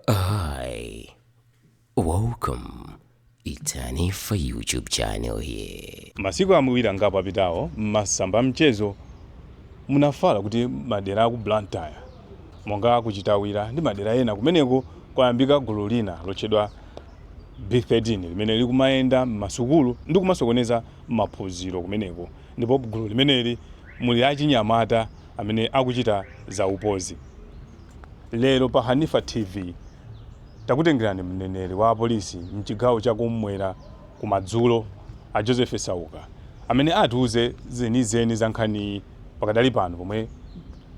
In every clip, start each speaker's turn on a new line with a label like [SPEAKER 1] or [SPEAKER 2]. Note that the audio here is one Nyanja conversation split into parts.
[SPEAKER 1] Hi, welcome. It's Hanifa YouTube channel here. masiku awiri
[SPEAKER 2] angapo apitawo m'masamba a mchezo munafala kuti madera aku Blantyre monga aku Chitawira ndi madera ena kumeneko kwayambika gulu lina lotchedwa B13 limene likumayenda m'masukulu ndi kumasokoneza maphunziro kumeneko ndipo gulu limeneli muli achinyamata amene akuchita zaupandu Lero pa Hanifa TV takutengerani mneneri wa apolisi mchigawo cha kummwera ku madzulo a Joseph Sauka amene atiuze zenizeni za nkhaniyi pakadali pano pomwe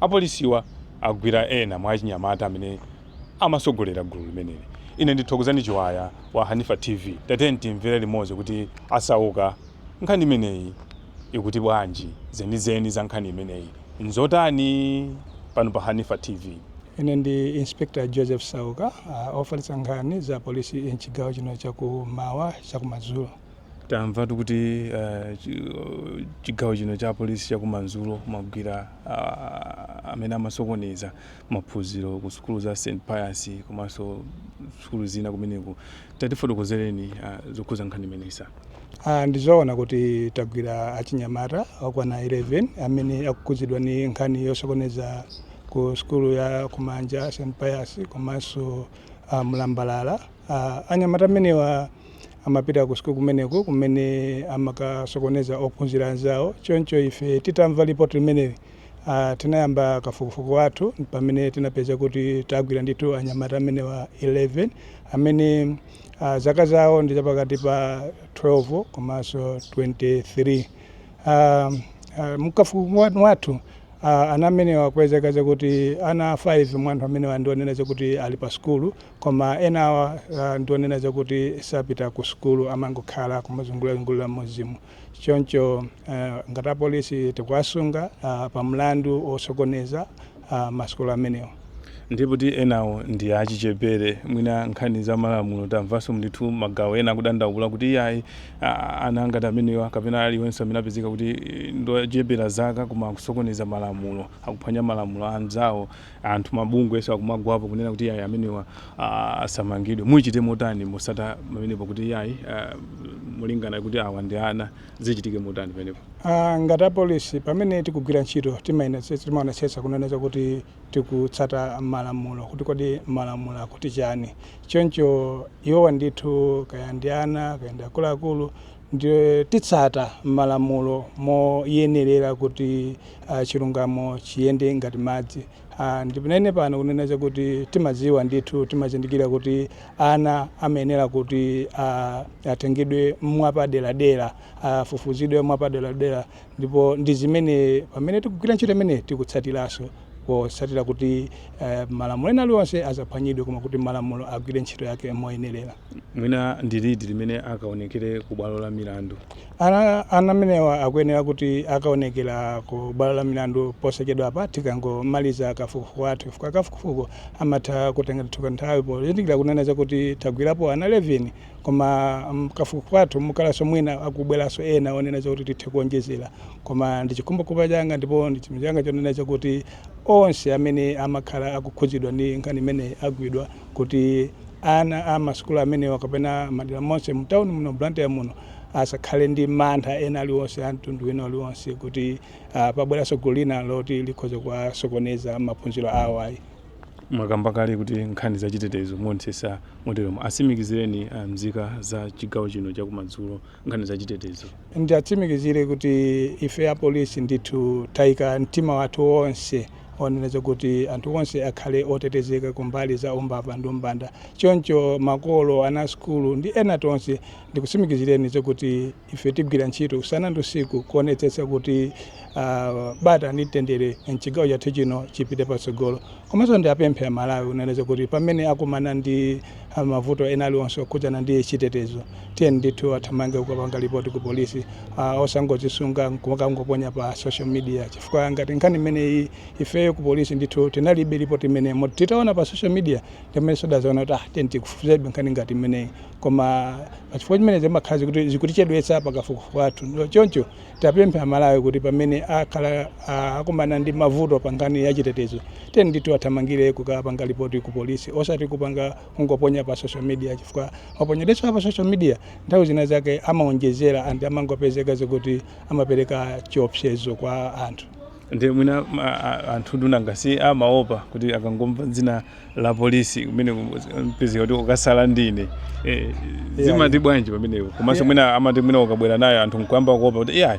[SPEAKER 2] apolisiwa agwira ena mwa achinyamata amene amasogolera gulu limeneli. Ine ndi Thokozani Chiwaya wa Hanifa TV. Tatiyeni timvere limodzi kuti a Sauka. Nkhani imeneyi ikuti bwanji? Zenizeni za nkhani imeneyi nzotani? Pano pa Hanifa TV. Ine ndi
[SPEAKER 3] Inspector Joseph Sauka, ofalitsa nkhani za polisi m'chigawo chino cha kummwera cha kumadzulo. Tamvatu
[SPEAKER 2] kuti chigawo chino cha polisi cha kumadzulo mwagwira amene amasokoneza maphunziro ku sukulu za St Pius komanso sukulu zina kumeneko. Tatifotokozereni zokhudza nkhani imeneyi sir. Ah, ndi
[SPEAKER 3] zoona kuti tagwira achinyamata okwana 11 amene akukhudzidwa ndi nkhani yosokoneza ku sukulu ya ku Manja St Pius komanso ah, Mlambalala ah, anyamata amenewa amapita ku sukulu kumeneku kumene amakasokoneza ophunzira anzawo choncho ife titamva lipoti limeneli ah, tinayamba kafukufuku wathu pamene tinapeza kuti tagwira ndithu anyamata amenewa 11 amene Uh, zaka zawo ndi zapakati pa 12 komanso 23 uh, uh, mkafukufuku wathu uh, ana amenewa kwapezeka zakuti ana 5 mwa anthu amenewa ndionena zakuti ali pa sukulu koma enawa uh, ndionena zakuti sapita ku sukulu amangokhala kumazungulazungulira m'mudzimu choncho uh, ngati apolisi tikuwasunga uh, pa mlandu osokoneza uh, masukulu amenewa ndipo poti
[SPEAKER 2] enawo ndi achichepere mwina nkhani za malamulo tamvanso ndithu magawo ena akudandaula kuti iyayi ana ngati amenewa kapena aliyense amene apezeka kuti eh, ndochepera zaka koma akusokoneza malamulo akuphwanya malamulo anzawo Anthu mabungwenso akumagwapo kunena kuti iyayi amenewa asamangidwe. Muchite motani motsata pamenepo kuti iyayi molingana kuti awa ndi ana zichitike motani pamenepo? Ngati apolisi
[SPEAKER 3] pamene tikugwira ntchito timaonetsetsa kunena zakuti tikutsata malamulo kuti kodi malamulo akuti chani. Choncho iwowa ndithu kaya ndi ana kaya ndi akuluakulu ndiye titsata malamulo moyenerera kuti. a, chilungamo chiyende ngati madzi. A, ndinene pano kunena zakuti timadziwa ndithu, timazindikira kuti ana amayenera kuti a, atengedwe mwapaderadera, afufuzidwe mwapaderadera ndipo ndi zimene pamene tikugwira ntchito imeneyi tikutsatiranso potsatira kuti a, malamulo ena aliwonse asaphwanyidwe koma kuti malamulo agwire ntchito yake moyenerera. mwina
[SPEAKER 2] ndi liti limene akaonekere ku bwalo la milandu ana
[SPEAKER 3] ana amenewa akuyenera kuti akaonekere ku bwalo la milandu posachedwa apa tikangomaliza kafukufuku wathu chifukwa kafukufuku amatha kutenga ndithu kanthawi pozindikira kunena zakuti tagwirapo ana 11 koma mm, kafukufuku wathu mukhalanso mwina akubweranso ena onena zakuti tithe kuonjezera koma ndi chikhumbokhumba changa ndipo ndi chimwemwe changa chonena zakuti onse amene amakhala akukhudzidwa ndi nkhani imeneyi agwidwa kuti ana a masukulu amenewa kapena madera monse mu town muno Blantyre muno asakhale ndi mantha ena aliwonse a mtundu wina aliwonse kuti ah, pabweranso gulu lina loti likhoza kuwasokoneza maphunziro awo ayi mwakamba
[SPEAKER 2] kale kuti nkhani za chitetezo muonetsetsa moteromo atsimikizireni ah, mzika za chigawo chino chakumadzulo nkhani za chitetezo.
[SPEAKER 3] Ndiatsimikizire kuti ife a polisi ndithu taika mtima wathu wonse wonena zakuti anthu onse akhale otetezeka kumbali za umbava ndi umbanda. Choncho makolo, ana asukulu ndi ena tonse ndikutsimikizireni zakuti ife tigwira ntchito usana ndi usiku kuonetsetsa kuti ah, bata ndi mtendere m'chigawo chathu chino chipite patsogolo. Komanso ndiapemphe a Malawi kunena zakuti pamene akumana ndi mavuto ena aliwonse okhudzana ndi chitetezo, tiyeni ndithu athamange kukapanga report ku police osangodzisunga nkumakangoponya pa social media chifukwa ngati nkhani imeneyi ifeyo ku police ndithu tinalibe report imeneyo moti titaona pa social media ndi pamenenso tidadzaona kuti ah tiyeni tifufuzebe nkhani ngati imeneyi koma pachifukwa chimenecho zimakhala zakuti zikutichedwetsa pa kafukufuku wathu choncho Tiapemphe amalawi kuti pamene akhala akumana ndi mavuto pa nkhani ya chitetezo tiyeni ndithu athamangire kukapanga lipoti ku polisi osati kupanga kungoponya pa social media chifukwa maponyedwe a pa social media nthawi zina zake amaonjezera and amangopezeka zakuti amapereka chiopsezo kwa anthu ndi mwina
[SPEAKER 2] anthu ndinu nanga si amaopa kuti akangomva dzina la polisi kumene mpezeka kuti ukatsala ndine eh, zimati bwanji pamenepo komanso mwina amati mwina ukabwera nayo anthu nkuyamba kuopa kuti iya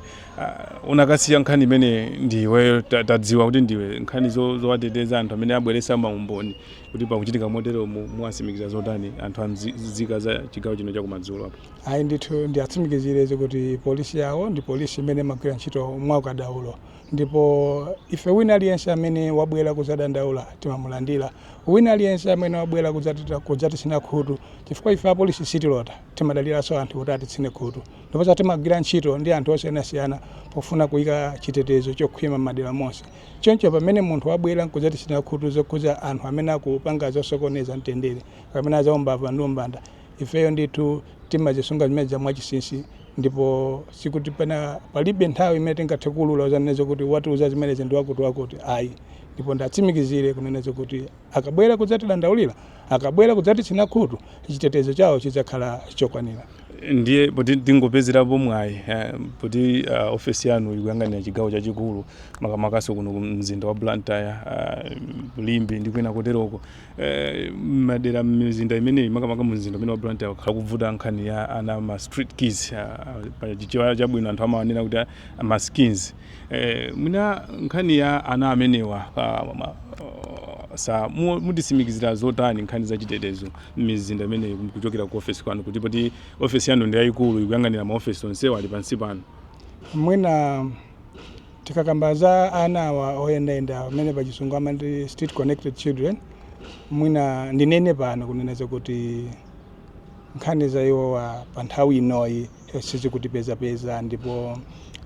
[SPEAKER 2] unakasiya nkhani imeneyi ndiwe ta- tadziwa kuti ndiwe nkhani zo- zowateteza anthu amene abweretsa maumboni kuti pakuchitika motero mu- muwatsimikiza zotani anthu amzika za chigawo chino chakumadzulo apo ayi ndithu
[SPEAKER 3] ndiatsimikizire zi kuti polisi yawo ndi polisi imene imagwira ntchito mwaukadaulo Ndipo ife wina aliyense amene wabwera kudzadandaula timamulandira. Wina aliyense amene wabwera kudzati- kudzatitsina khutu, chifukwa ife apolisi sitilota, timadaliranso anthu kuti atitsine khutu. Ndiponso timagwira ntchito ndi anthu osiyanasiyana pofuna kuika chitetezo chokhwima m'madera monse. Choncho pamene munthu wabwera n'kudzatitsina khutu zokhudza anthu amene akupanga zosokoneza mtendere kapena zaumbava ndi umbanda, ifeyo ndithu timazisunga zimenezo mwachinsinsi ndipo sikuti pena palibe nthawi imene tingathe kuulula kudzanena zokuti watiuza zimenezi ndi wakuti wakuti ayi ndipo ndiwatsimikizire kunena zokuti akabwera kudzatidandaulira akabwera kudzatitsina khutu chitetezo chawo chidzakhala chokwanira ndiye
[SPEAKER 2] poti tingopezerapo mwayi eh, poti uh, ofesi yanu ikuyang'anira chigawo chachikulu makamakanso kuno mzinda wa blantyre uh, limbe ndi kwina koteroko M'madera m'mizinda imeneyi makamaka mu mzinda umene wa Blantyre kwakhala kubvuta nkhani ya ana ama street kids pa chichewa chabwino anthu amawanena kuti masikini. Mwina nkhani ya ana amenewa mutitsimikizira zotani nkhani za chitetezo m'mizinda imeneyi kuchokera ku ofesi kwanu kuti poti ofesi yanu ndi yayikulu ikuyang'anira ma ofesi onsewa ali pansi panu. Mwina
[SPEAKER 3] Tikakamba za ana awa oyendayenda amene pa chisungu amati street connected children mwina ndinene pano kunena zakuti nkhani za iwowa pa nthawi inoyi eh, sizikutipezapeza ndipo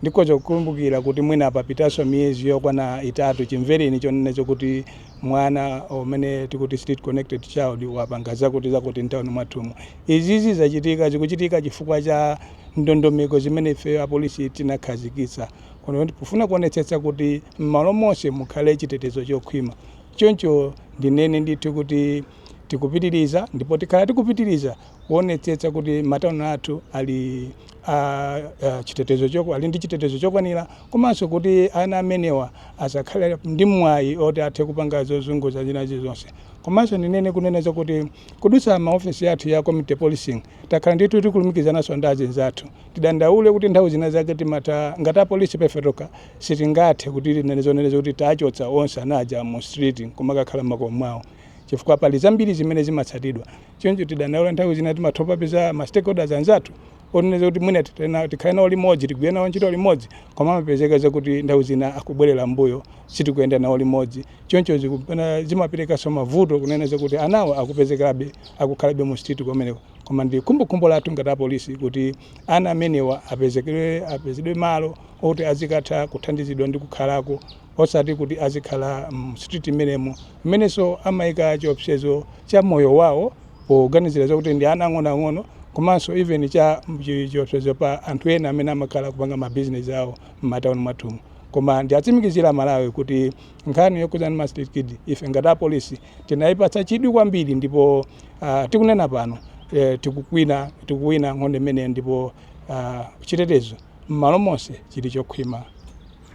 [SPEAKER 3] ndikhoza kukumbukira kuti mwina papitanso miyezi yokwana itatu chimvereni chonena zakuti mwana umene tikuti street connected child wapanga zakuti zakuti mtawuni mwathumu izizi zachitika zikuchitika chifukwa cha ndondomeko zimene ifeyo apolisi tinakhazikitsa Koma pofuna kuonetsetsa kuti m'malo monse mukhale chitetezo chokhwima, choncho ndinene ndithu kuti tikupitiriza ndipo tikhala tikupitiriza kuonetsetsa kuti matauni athu ali a, a chitetezo choko ali ndi chitetezo chokwanira komanso kuti ana amenewa asakhale ndi mwayi oti athe kupanga zozunguza zina zilizonse komanso ndinene kunena zakuti kudutsa mu ofesi yathu ya community policing takhala ndithu tikulumikizananso ndi azinzathu tidandaule kuti nthawi zina zake timatha ngati apolisi pa ife tokha sitingathe kuti tinene zonena zakuti tachotsa onse anaja mu street nkumakakhala m'makomo mwawo chifukwa pali zambiri zimene zimatsatidwa choncho tidandaule nthawi zina timatha kuwapeza ma stakeholders anzathu onena zakuti mwina titena- tikhale nawo limodzi tigwire nawo ntchito limodzi koma amapezeka zakuti nthawi zina akubwerera mbuyo sitikuyenda nawo limodzi choncho zikupena- zimaperekanso mavuto kunena zakuti anawo akupezekabe akukhalabe mu street kumeneko Koma ndi khumbokhumbo lathu ngati apolisi kuti ana amenewa apezekedwe apezedwe malo oti azikatha kuthandizidwa ndi kukhalako osati kuti azikhala mu street mmenemo mmenenso amaika chiopsezo cha moyo wawo poganizira zakuti ndi ana ang'onoang'ono komanso even cha chi- chiopsezo pa anthu ena amene amakhala kupanga ma business awo m'matauni mwathumu koma ndiatsimikizira amalawi kuti nkhani yokhudzana ndi ma street kid ife ngati apolisi Tinaipatsa chidwi kwambiri ndipo uh, tikunena pano eh, tikukwina tikuwina nkhondo imeneyo ndipo uh, chitetezo m'malo monse chili chokhwima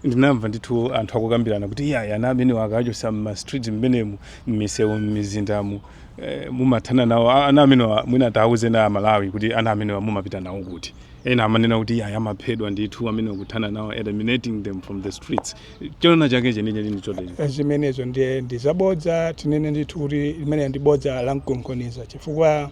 [SPEAKER 3] ndinamva
[SPEAKER 2] ndithu anthu akukambirana kuti iyayi ana amenewa akawachotsa mmastreet mmenemu mmisewu mmizindamu eh, mumathana nawo A- ana amenewa mwina tawuze na amalawi kuti ana amenewa mumapita nawo kuti ena amanena kuti iyayi amaphedwa ndithu amenewa kuthana nawo eliminating them from the streets choona chake chenicheni ndi chotani Eh, zimenezo ndiye
[SPEAKER 3] ndi zabodza tinene ndithu kuti limeneli ndi bodza la mkunkhuniza chifukwa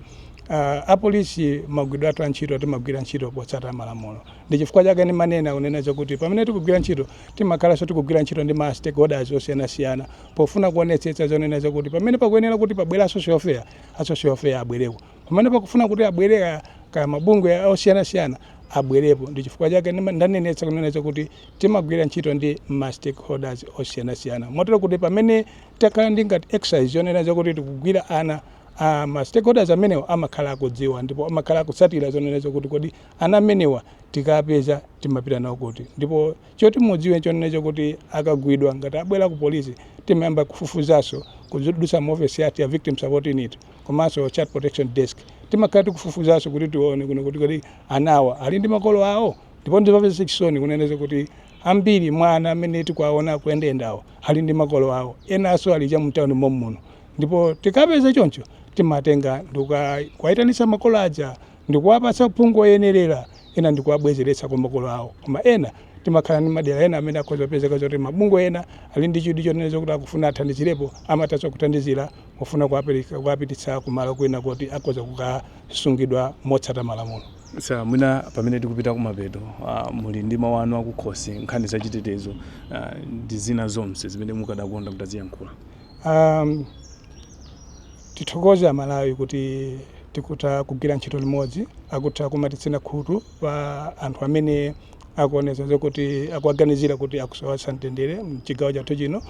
[SPEAKER 3] uh, apolisi magwiridwe athu a ntchito timagwira ntchito potsata malamulo ndi chifukwa chake ndimanena kunena zakuti pamene tikugwira ntchito timakhalanso tikugwira ntchito ndi ma stakeholders osiyanasiyana pofuna kuonetsetsa zonena zakuti pamene pakuyenera kuti pabwere a social welfare a social welfare abwereko pamene pakufuna kuti abwere kaya- kaya mabungwe osiyanasiyana abwerepo ndi chifukwa chake ndima- ndanenetsa kunena chakuti timagwira ntchito ndi ma stakeholders osiyanasiyana motero kuti pamene takhala ndi ngati exercise yonena chakuti tikugwira ana Uh, ma stakeholders amenewa amakhala akudziwa ndipo amakhala akutsatira zonena zakuti kodi ana amenewa tikapeza timapita nawo kuti ndipo Choti mudziwe nchonena chakuti akagwidwa ngati abwera ku police timayamba kufufuzanso kudutsa mu office yathu ya Victim Support Unit komanso Child Protection Desk. Timakhala tikufufuzanso kuti tione kuno kuti kodi ana awa ali ndi makolo awo? Ndipo ndizomvetsa chisoni kunena zakuti ambiri mwa ana amene tikuwaona akuyendayendawa ali ndi makolo awo. Enanso ali cha mtown mommuno. Ndipo tikapeza choncho timatenga ndikukawayitanitsa makolo aja. ndikuwapatsa uphungu oyenerera, ena ndikuwabwezeretsa kwa makolo awo. Koma ena timakhala ndi madera ena amene akhoza kupezeka zoti mabungwe ena ali ndi chidwi chonena zokuti akufuna athandizirepo, amathanso kuthandizira pofuna kuwapereka, kuwapititsa kumalo kwina koti akhoza kukasungidwa motsata malamulo. Sir, mwina
[SPEAKER 2] pamene tikupita kumapeto, ah, muli ndi mawu anu akukhosi, nkhani za chitetezo, ah, ndi zina zonse zimene mukadakonda mutaziyankhula. Um,
[SPEAKER 3] tithokoze amalawi kuti tikutha kugwira ntchito limodzi akutha kumatitsina khutu pa anthu amene akuonetsa zokuti akuwaganizira kuti akusowetsa mtendere mchigawo chathu chino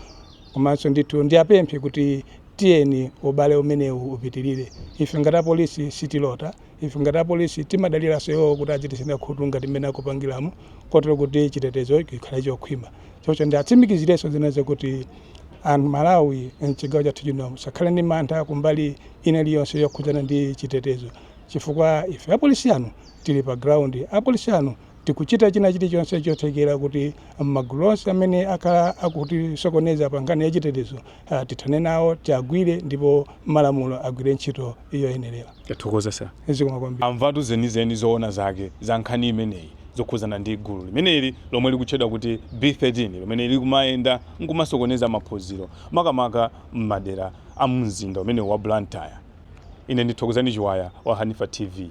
[SPEAKER 3] komanso ndithu ndiapemphe kuti tiyeni ubale umenewu upitirire ife ngati apolisi sitilota Ife ngati apolisi timadaliranso iwo kuti adzititsina khutu ngati mmene akupangiramo kotero kuti chitetezo chikhale chokhwima. Choncho ndiwatsimikizirenso zinanso kuti Amalawi mchigawo chathu chino asakhale ndi mantha kumbali ina iliyonse yokhudzana ndi chitetezo chifukwa ife apolisi anu tili pa ground, apolisi anu tikuchita china chilichonse chothekera kuti magulu onse amene akhala akutisokoneza pa nkhani ya chitetezo ah, tithane nawo, tiagwire ndipo malamulo agwire ntchito yoyenerera. Tathokoza
[SPEAKER 2] sir. Zikomo kwambiri.
[SPEAKER 3] Amvatu
[SPEAKER 2] zenizeni zoona zake za nkhani imeneyi zokhudzana ndi gulu limeneli lomwe likutchedwa kuti B13 lomwe likumayenda nkumasokoneza maphunziro makamaka m'madera a mu mzinda umenewu wa Blantyre. Ine ndi Thokozani Chiwaya wa Hanifa TV.